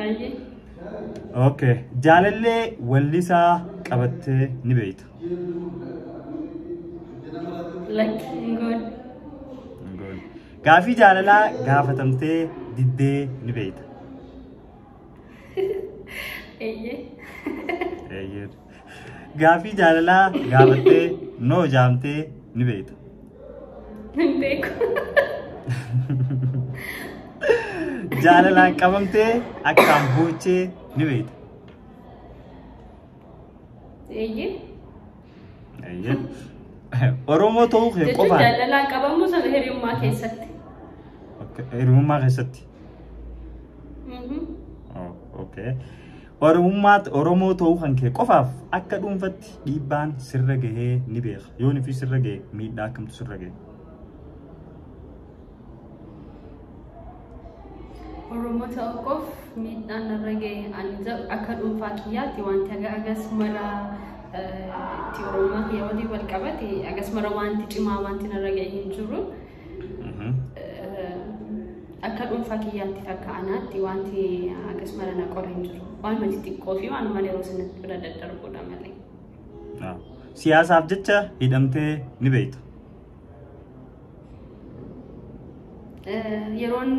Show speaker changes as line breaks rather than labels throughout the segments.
Ayyee. Okay. Jaalallee wallisaa qabattee ni beekta.
Lakki hin
goone. Gaafii jaalalaa gaafatamtee diddee ni beekta.
Ayyee.
Eeyyee. Gaaffii jaalalaa gaafattee noo jaamtee ni beekta. Hin
beeku.
Jaalalaan qabamtee akkaan boochee ni beekta.
Eeyyee.
Eeyyee. Oromoo ta'uu kee Jechuun qofaan jaalalaan qabamuu sana
hiriyummaa keessatti.
hiriyummaa keessatti. Mhm. Oh, okay. Oromummaatti Oromoo ta'uu kan kee qofaaf akka dhuunfatti dhiibbaan sirra gahee ni beeka. Yoon fi sirra gahe miidhaa akkamtu sirra gahe.
Oromoo ta'uu koof miidhaan narra gahe ani jedhu akka dhuunfaa kiyyaatti wanti aga agas mara itti Oromummaa kiyya waliin wal qabate agas mara wanti cimaa wanti narra gahe hin jiru. Akka dhuunfaa kiyyaatti takka anaatti wanti akkas mara na qore hin jiru. Waan mati xiqqoo fi waan malee yeroo sanatti bira daddarbuudha malee.
Siyaasaaf jecha hidhamtee ni beekta.
Yeroon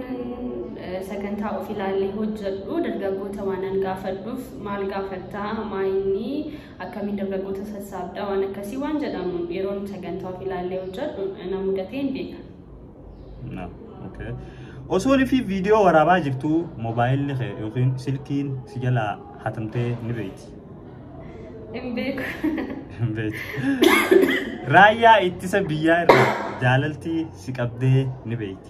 sagantaa of ilaallee hojjedhu dargaggoota waanan gaafadhuuf maal gaafattaa maayinii akkamiin dargaggoota sassaabda waan akkasii waan jedhamu yeroon sagantaa of ilaallee hojjedhu na mudatee hin beeka.
No. Okay. Osoo fi viidiyoo waraabaa jirtu moobaayilli kee yookiin silkiin si jalaa hatamtee ni beekti.
Hin beeku. Hin beekti.
Raayyaa ittisa biyyaa irraa jaalaltii si qabdee ni beekti.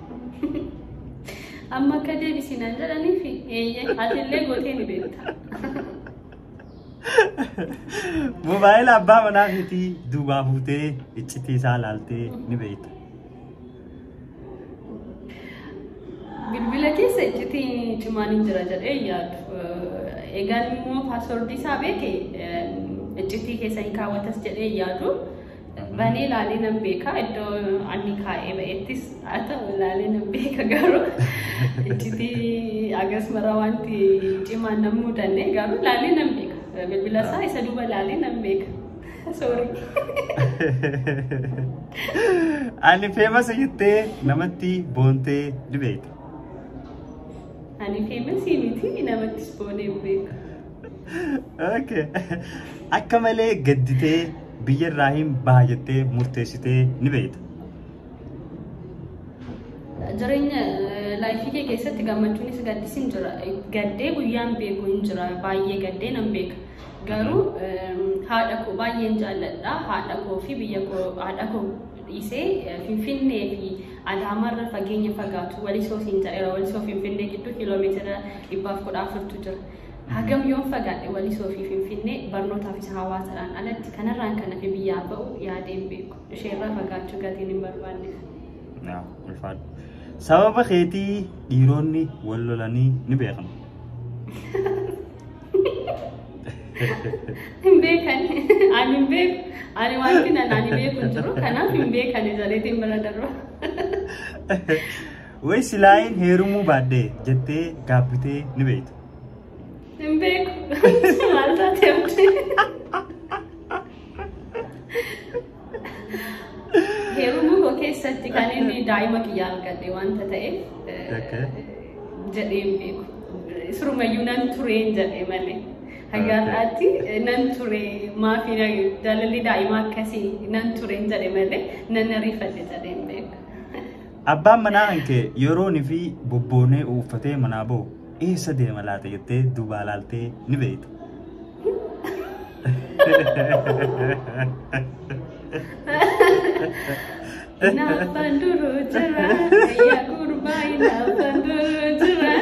Amma
akka deebisinaan jedhaniif eeyyee atillee gootee ni beekta.
Mobaayila abbaa manaa keetii duubaa fuutee iccitii isaa laaltee ni beekta.
Bilbila keessa iccitii cimaan hin jira jedhee hin yaadu. Eh, Egaan immoo paaswordii isaa beeke eh, iccitii keessa hin kaawwatas jedhee hin yaadu. Banee ilaalee nan beeka iddoo anni kaa'ee ba'ettis haa ta'u ilaalee nan beeka garuu iccitii agas mara wanti cimaan nan mudanne garuu ilaalee nan beeka bilbila isaa isa duuba ilaalee nan beeka. Sorry.
Ani feemasa jettee namatti boontee ni beekta.
Ani feemasi miti namattis boonee hin beeku.
Okay. Akka malee gadditee biyya irraa hin baha jettee murteessitee ni beekta.
Jireenya eh, laayifii kee keessatti gammachuunis gaddis hin jira. Eh, Gaddee guyyaan beeku hin jira. Baay'ee gaddee nan beeka. Garuu eh, haadha koo baay'een jaalladha. Haadha koo fi biyya koo haadha koo dhiisee eh, Finfinnee fi Adaamarra fageenya fagaatu walisoo siin jedheera. Walisoo Finfinnee gidduu kiiloomeetira dhibbaaf kudha afurtu jira. Hagam yoon fagaadhe Walisoo fi Finfinnee barnootaaf isa hawaasadhaan alatti kanarraan kan hafe biyyaa ba'u yaadee hin beeku. Isheerraa fagaachuu gatiin hin barbaanneef. Naaf
ulfaadhu. Sababa keetii dhiironni wal lolanii ni beekan.
Hin beekan. Ani hin beeku. Ani wanti nan ani beeku hin jiru. Kanaaf hin beekan jaleetiin bira darba.
Way silaayin heerumuu baadhee jettee gaabbitee ni beektu. Hin
beeku. Maal taatee abdii? Heerumuu koo keessatti kan inni daa'ima kiyya argadhe wanta ta'eef Okay. jedhee hin beeku. Surumayyuu nan tureen jedhee malee. Hayyaadhaatti nan ture maafii jaalalli daa'ima akkasii nan tureen jedhee malee nan ariifadhe jedhee hin beeku. Abbaan
manaa kan kee yeroon fi bobboonee uuffatee manaa bahu eessa deema laata jettee duubaa laaltee ni beekta.
Naabbaan duruu jira. Ayyaa gurbaa naabbaan duruu jira.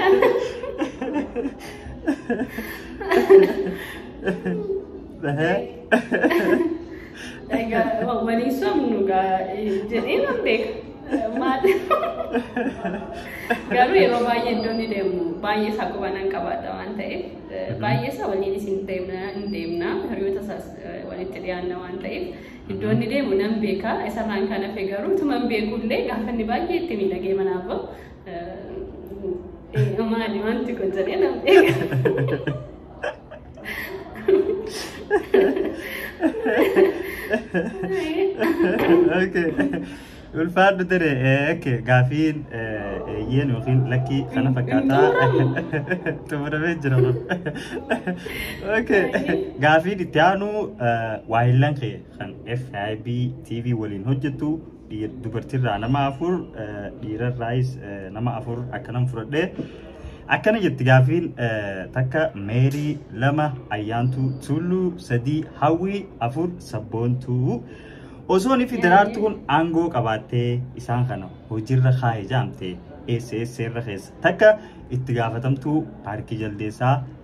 Egaa walii somnu jedhee nan beeka. Maal? Garuu yeroo baay'ee iddoo ni deemu. Baay'ee isaa quba nan qabaadha waan ta'eef baay'ee isaa waliin isin deemna hin deemna hiriyoota isaas walitti dhiyaanna waan ta'eef iddoo inni deemu nan beeka. Isarraan kan hafe garuu tuma hin beekullee gaafa inni baay'ee itti miidhagee manaa bahu maali wanti kun jedhee nan beeka.
Okay. Ulfaadhu ture. Eh, Okay. Gaafiin eh, eeyyeen yookiin lakkii kana fakkaataa xumuramee jira. Okay. Gaafiin itti aanu eh, waahillan kee kan FIB TV waliin hojjettu dubartiirraa nama afur dhiirarraayis nama afur akkanan fudhadhe akkana jetti gaafiin takka meerii lama ayyaantuu tulluu sadii hawwii afur sabboontuu osoon fi daraartuun aangoo qabaattee isaan kana hojiirra kaa'e jaamte eessa eessa irra keessa takka itti gaafatamtuu paarkii jaldeessaa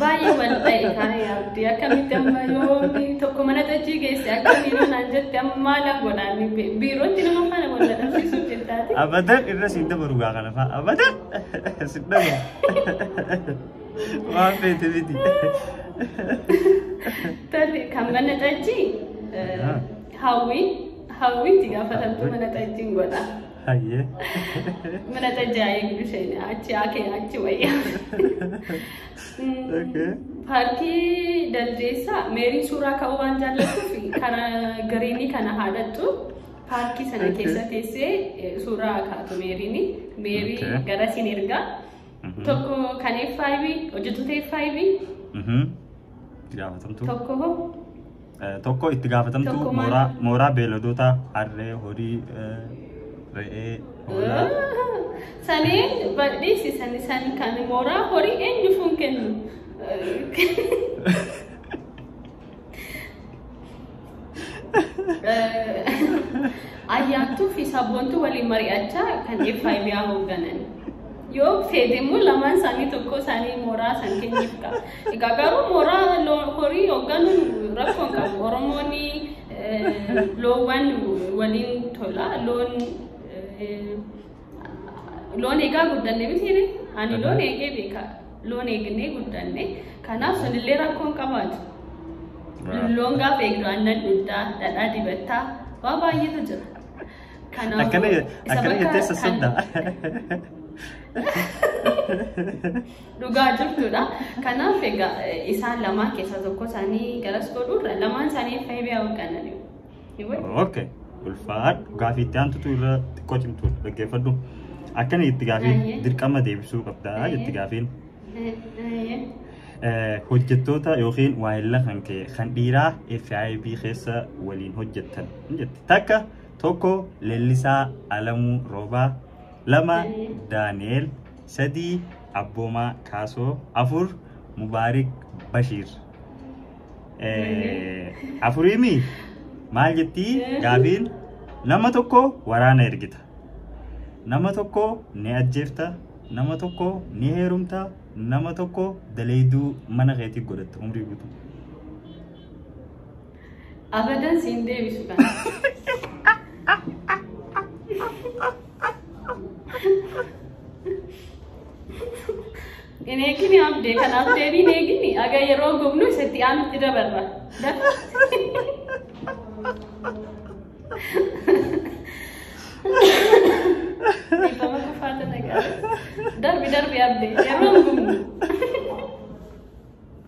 Baay'ee wal ta'e taa'ee abdii akkamitti amma yoo tokko mana tajjii geesse akkamii yoo naan jette amma maal godhaan biirootti nama faana wal dadhabsiisuuf jettaati. Abadan irra siin
dabaru gaa kana fa'a. Abadan siin dabaru. Waan feete miti.
Tati kan mana tajjii hawwii hawwiitti gaafatamtu mana tajjiin godha. Hayyee. Mana tajjaa eegdu isheen achi haakee achi wayyaa. Okay. Paarkii Daldeessaa meerii suuraa ka'uu waan jaallattuuf karaa gariinii kana haadhattu paarkii sana Okay. keessa teessee eh, suuraa kaatu meeriini. Meerii Okay. gara siin ergaa. Mhm. Tokko kan FIB hojjettoota FIB Mhm. Gaafatamtuu. tokko hoo
Tokko itti gaafatamtuu Tokko maal? mooraa mooraa beeladootaa harree, horii, eh, re'ee, hoolaa. Sanii
badhiisi sani san kan mooraa horii eenyu fuun kennu. Ayyaantuu fi sabboontuu waliin mari'achaa kan FIB hoogganan. Yoo fedhe immoo lamaan isaanii tokko isaanii mooraa san kenniif qaba. Egaa garuu mooraa loo- horii hoogganuun rakkoo hin qabu. Oromoonni eh, loowwan waliin tola. Loon eh, loon eegaa guddanne miti jedhe. Ani loon eegee beeka. Loon eegnee guddanne. Kanaaf sunillee rakkoo hin qabaatu. Loon gaafa eegdu aannan dhugdaa, dhadhaa dibattaa waa baay'eetu jira. Kanaaf Akkana
isa akkana bakka jettee kan- sassabda.
Dhugaa jirtuudha. Kanaaf egaa isaan lamaan keessaa tokko isaanii garas godhuurra lamaan isaanii akka hibiyaa hoogganan
ni wayya. Okay. Ulfaadhu gaafii itti aantutu irra xiqqoo cimtuudha dhaggeeffadhu. Akkana itti gaafii Baay'ee. dirqama deebisuu qabda Baay'ee. jetti gaafiin. Eh, Hojjettoota yookiin waayilla kan kee kan dhiiraa FIB keessa waliin hojjettan ni jetti. Takka tokko Leellisaa Alamuu Roobaa lama Baay'ee. Daani'eel 3 Abboomaa Kaasoo 4 Mubaarik Bashiir Eh, afuriimi maal jettii gaafiin nama tokko waraana ergita nama tokko ni ajjeefta nama tokko ni heerumta nama tokko daleeyduu mana keetii godhatta umrii guutuu
Abadan siin deebisu kana. Hin eegini abdee kanaaf deebii hin eegini aga yeroo gubnu isatti aanutti dabarra. Dhiifama kufaata nagaa. Darbi darbi abdee yeroo gubnu.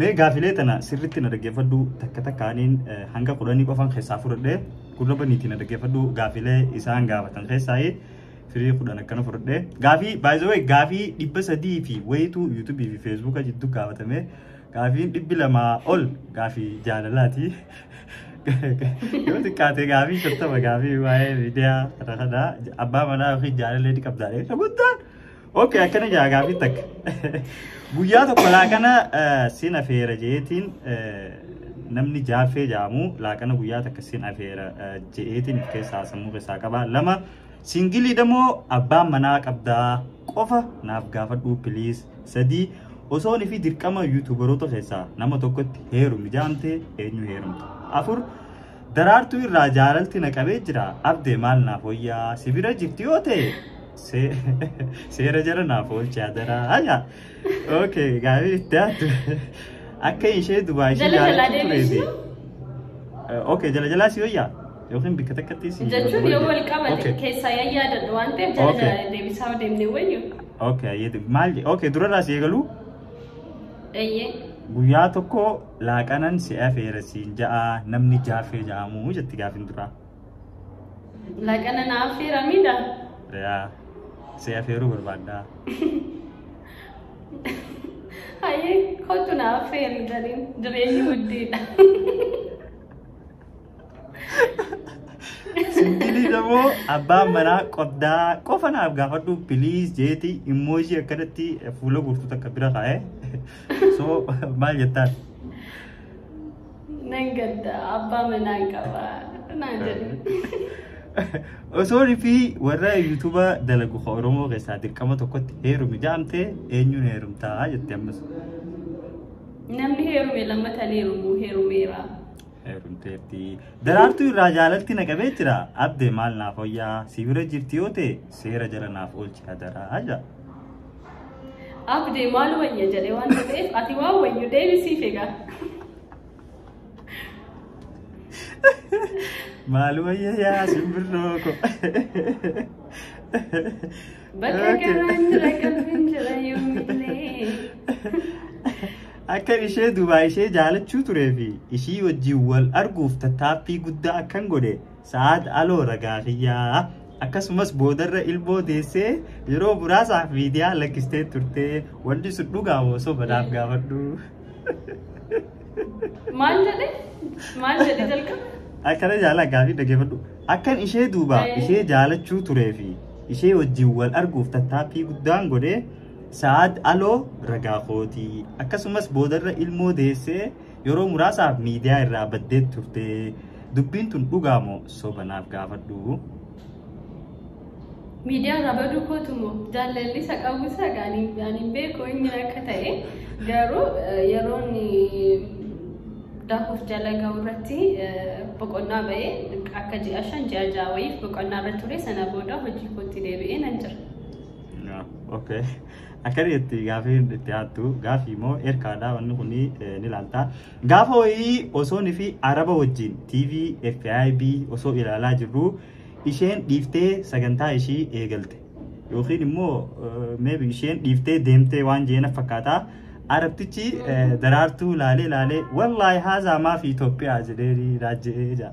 Mee gaafilee tana sirriitti na dhaggeeffadhu takka takkaaniin hanga kudhanii qofaan keessaa fudhadhe gurra baniitii na dhaggeeffadhu gaafilee isaan gaafatan keessaa firii kudhan akkana fudhadhe gaafii baay'ee gaafii dhibba sadii fi wayituu yuutuubii fi feesbuuka jidduu gaafatame gaafiin dhibbi lamaa ol gaafii jaalalaati. Yoo xiqqaate gaafii shattama gaafii waa'ee miidiyaa kana kana abbaa manaa yookiin jaalallee ni qabdaa. Isa guddaan Okay, akkana jaa gaafii takka. Guyyaa tokko laaqana eh, sin afeera jeetiin eh, namni jaaffee jaamu laaqana guyyaa takka sin afeera eh, jeetiin of keessaa sammuu keessaa qaba. Lama singilii damoo abbaan manaa qabdaa qofa naaf gaafadhuu piliis. Sadii osoon fi dirqama yuutuubaroota keessaa nama tokkotti heerumi jaamte eenyu heerumta. Afur daraartuu irraa jaalalti na qabee jira abdee maal naaf wayyaa si bira jirti yoo ta'e Seera jala naaf oolchi adaraa. Haya. Okay, gaarii itti aadde. Akka ishee dubaa ishee Jala jalaa jaallattu turee fi. deebisu. Okay, jala jalaa si hoyyaa yookiin bikka takkatti si. Jechuun yoo wal qabate Okay.
keessaa yaa yaadadhu waan ta'eef jala Okay. jala deebisaa deemnee wayyu. Okay, ayyee
maal okay durarraa si eegaluu Eeyyee. guyyaa tokko laaqanan si afeera siin ja'a namni jaafee ja'amu jetti gaafin duraa. Lagana
na affeera miidha. Yaa,
si afeeruu barbaaddaa.
Hayyee kottu na affeeri jedhin dureeyyi guddiidha.
Singilii damoo abbaan manaa qoddaa qofa naaf gaafadhu piliis jeeti immoo ishii akkanatti fuula guutuu takka bira kaa'e. So maal jettaan?
Nan gadda abbaa manaan qaba naan jedhu.
Osoo rifii warra yuutuuba dalagu ka Oromoo keessaa dirqama tokkotti heerumi jaamte eenyuun heerumtaa jette ammas. Namni
heerume lammatan heerumu heerumeera. Heerumteetti.
Daraartuu irraa jaalalti na qabee jira. Abde maal naaf hoyyaa si bira jirti yoo ta'e seera jala naaf oolchi hadaraa jaa.
Abdee maal wayya jedhee waan ta'eef ati waan wayyu deebisiif egaa.
Maal wayya yaa simbirroo ko. Bakka garaan
jira qalbiin jira yoomillee.
Akkan ishee Dubaay ishee jaalachuu turee fi ishii wajjin wal arguuf tattaaffii guddaa akkan godhe Sa'aad Aloo ragaa kiyyaa. Akkasumas boodarra ilmoo deessee yeroo muraasaaf miidiyaa lakkistee turte wanti sun dhugaa moo soba naaf gaafadhu.
Maal jedhe? Maal jedhe jalqaba? Akkana
jaalaa gaafii dhaggeeffadhu. Akkan ishee duuba Eh. ishee jaalachuu turee fi ishee wajjin wal arguuf tattaaffii guddaan godhee Sa'aad Aloo ragaa kootii. Akkasumas boodarra ilmoo deessee Yeroo muraasaaf miidiyaa irraa baddeet turte. Dubbiin tun dhugaa moo soba naaf gaafadhu.
Miidiyaa irraa baduu kootu moo jaalalli isa qabu isa gaanii ani hin beeku inni akka ta'e garuu eh, yeroon eh, daakuuf jala ga'u irratti eh, boqonnaa ba'ee akka ji'a shan ji'a ja'a wayiif boqonnaa irra ture sana booda hojii kootti deebi'ee nan jira. Yeah, Okay.
Akkani itti gaafiin itti aattu gaafii moo erkaadha wanni kun ni laalta. Gaafa wayii osoon fi araba wajjin TV FIB osoo ilaalaa jirru isheen dhiiftee sagantaa ishii eegalte. Yookiin immoo maybe isheen dhiiftee deemtee waan jeena fakkaata. Arabtichi daraartuu laalee laalee wallaahi haazaa maafi Itoophiyaa jedhee raajjee jaa.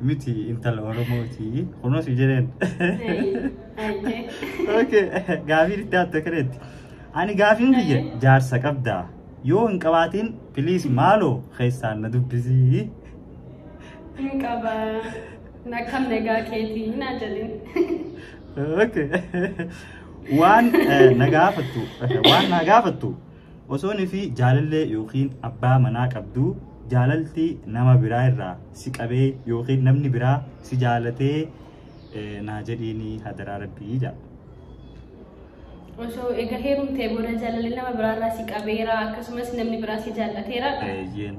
Miti intala Oromooti. Kunoo si jedheen. Okay. Gaafiin itti aantu akkanaatti. Ani gaafiin kiyya jaarsa qabdaa. Yoo hin qabaatiin piliis maaloo keessaan na dubbisii. Hin
qaba. Na kam nagaa keetii naa jedhin.
Okay. Waan eh, na gaafattu eh, waan na gaafattu Osoo nifi jaalallee yookiin abbaa manaa qabduu jaalalti nama biraa irraa si qabee yookiin namni biraa si jaalatee naa jedhiini hadaraa rabbii jaa.
Osoo egaa heerumtee booda jaalalli nama biraarraa si qabeera akkasumas namni biraa si jaallateera. Eeyyeen.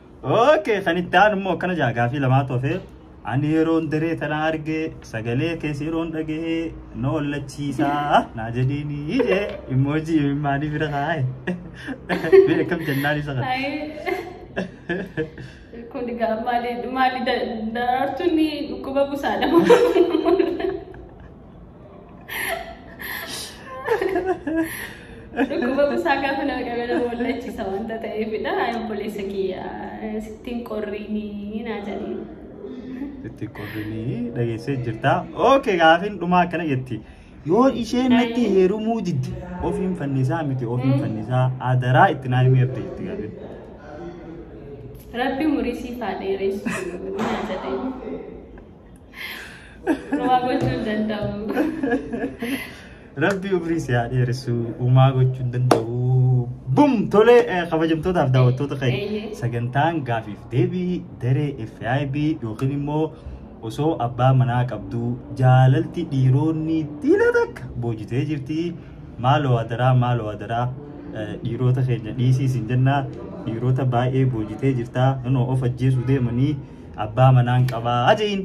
Okay, kan itti aanu immoo akkana jaa gaafii lamaa tofe. Ani yeroon daree tana arge sagalee keessa yeroon dhagahe na ollachiisaa naa jedhiini ije immoojii imimmaanii bira kaa'e. Mee akkam jennaan isa kana. Hayi.
Kun egaa maali maali daraartuun dhukkuba busaadha. Dhukkuba busaa gaafa nama qabee nama wallachiisa wanta ta'eefidha. Ayi obboleessa kiyya sittiin qorriinii naa jedhee. Itti
qorrinii dhageessee jirta. Ookee gaafiin dhumaa akkana jetti. Yoo isheen natti heerumuu didde ofiin fannisaa miti ofiin fannisaa adaraa itti naa himee abdii jetti gaafiin. Rabbi
umurii siif haa dheeressu naa jedhee. Rumaa gochuu hin danda'u.
Rabbi umrii si haa dheeressu umaa gochuu hin danda'u. Bum tolee eh, kabajamtootaaf daawwattoota keenya Eeyyee. sagantaan gaafiif deebii daree FIB yookiin immoo osoo abbaa manaa qabduu jaalalti dhiiroonni dhiira takka boojitee jirti maaloo adaraa maaloo adaraa eh, dhiirota keenya dhiisii isin jennaa dhiirota baay'ee boojitee jirta inoo of ajjeesuu deemanii abbaa manaan qabaa ajein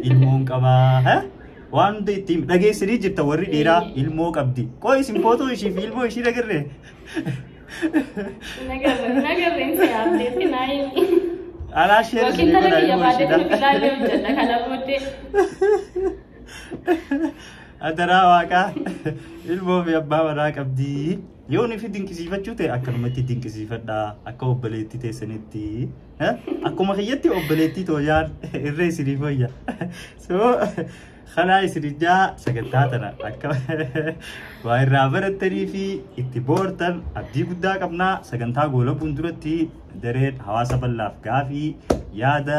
ilmoon qabaa ha? waan hunda ittiin dhageessanii jirta warri dhiiraa ilmoo qabdi qoy isin footoo ishii fi ilmoo ishii dhagarre Nagarre
nagarre inni yaabdeetti naa inni. alaa
sheer Yookiin isinii tana godha biyya ilmoo baadee kun
ishiidha ilaalee hojjedha kana booddee.
adaraa waaqaa ilmoo fi abbaa manaa qabdi yoo nufi dinqisiifachuu ta'e akkanumatti dinqisiifadha akka obboleetti teessanitti Eh, Akkuma kiyyatti obboleettii tooyaan irree isinii fayya. So kanaa isinijaa sagantaa tana akka waa irraa barattanii fi itti boortan abdii guddaa qabnaa sagantaa goolabuun duratti dareen hawaasa bal'aaf gaafii yaada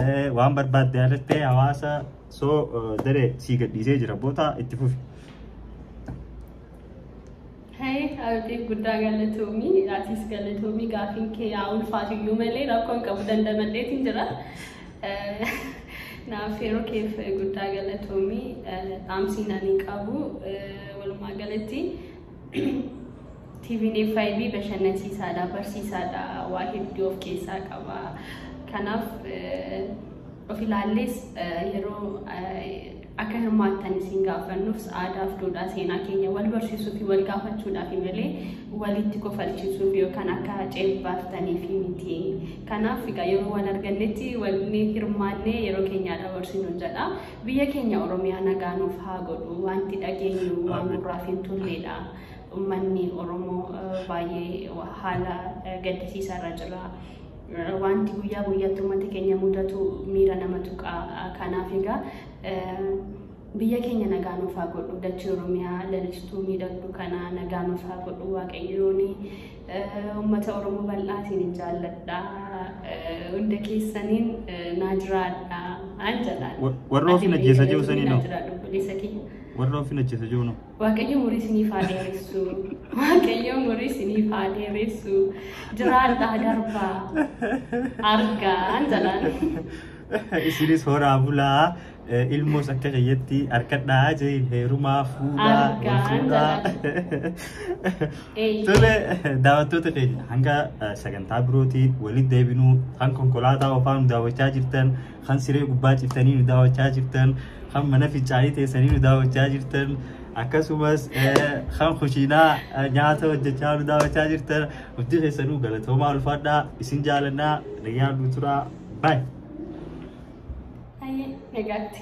eh, waan barbaadde yaadattee hawaasa so eh, daree sii gadhiisee jira boota itti fufi.
Hey Abdii guddaa galatoomii atis galatoomii gaafiin kee yaa ulfaatu iyyuu malee rakkoon qabu dandamadheetiin jira. Naaf yeroo keef guddaa galatoomii dhaamsiin ani qabu walumaa galatti TVn FIB bashannansiisaadha barsiisaadha waa hedduu of keessaa qaba. Kanaaf of ilaallees yeroo Akka hirmaattan isin gaafannus aadaaf duudhaa seenaa keenya wal barsiisuu fi wal gaafachuudhaafi malee walitti kofalchiisuuf yookaan akka ceebbaartaniifi miti. Kanaaf egaa yeroo wal argannetti walni hirmaannee yeroo keenyaa dabarsinuun jedha. Biyya keenya Oromiyaa nagaa nuuf haa godhu. Wanti dhageenyu waan gurraaf hin tolleedha. Ummanni Oromoo baay'ee haala gaddisiisaa irra jira. Wanti guyyaa guyyaatti uummata keenya mudatu miira nama tuqa. Kanaaf egaa biyya keenya nagaa nuuf haa godhu dachee oromiyaa lalistuu miidhagdu kana nagaa nuuf haa godhu waaqayyooni uummata oromoo bal'aatiin hin jaalladha hunda keessaniin naa jiraadha an jedhaan warra ofiin ajjeesa
jiru sanii noo warra ofiin ajjeesa jiru noo
Waaqayyo umurii isiniif haa dheeressu. Waaqayyo umurii isiniif haa dheeressu.
Jiraadhaa darbaa. Argaan jalaan. Isinis horaa bulaa eh, ilmoos akka keeyyatti harkadhaa jeen heerumaa fuudhaa wal Argaan fuudhaa. Eeyyee. Tole daawwattoota keenya hanga eh, sagantaa birootiin walitti deebinuu kan konkolaataa ofaan daawwachaa jirtan kan siree gubbaa ciftanii nu daawwachaa jirtan, kan mana fincaanii teessanii nu daawwachaa jirtan, akkasumas kan kushiinaa nyaata hojjechaa nu daawwachaa jirtan hundi keessanuu galatoomaa ulfaadhaa isin jaalannaa nagaan nu turaa baay'ee. Hayyee nagaatti.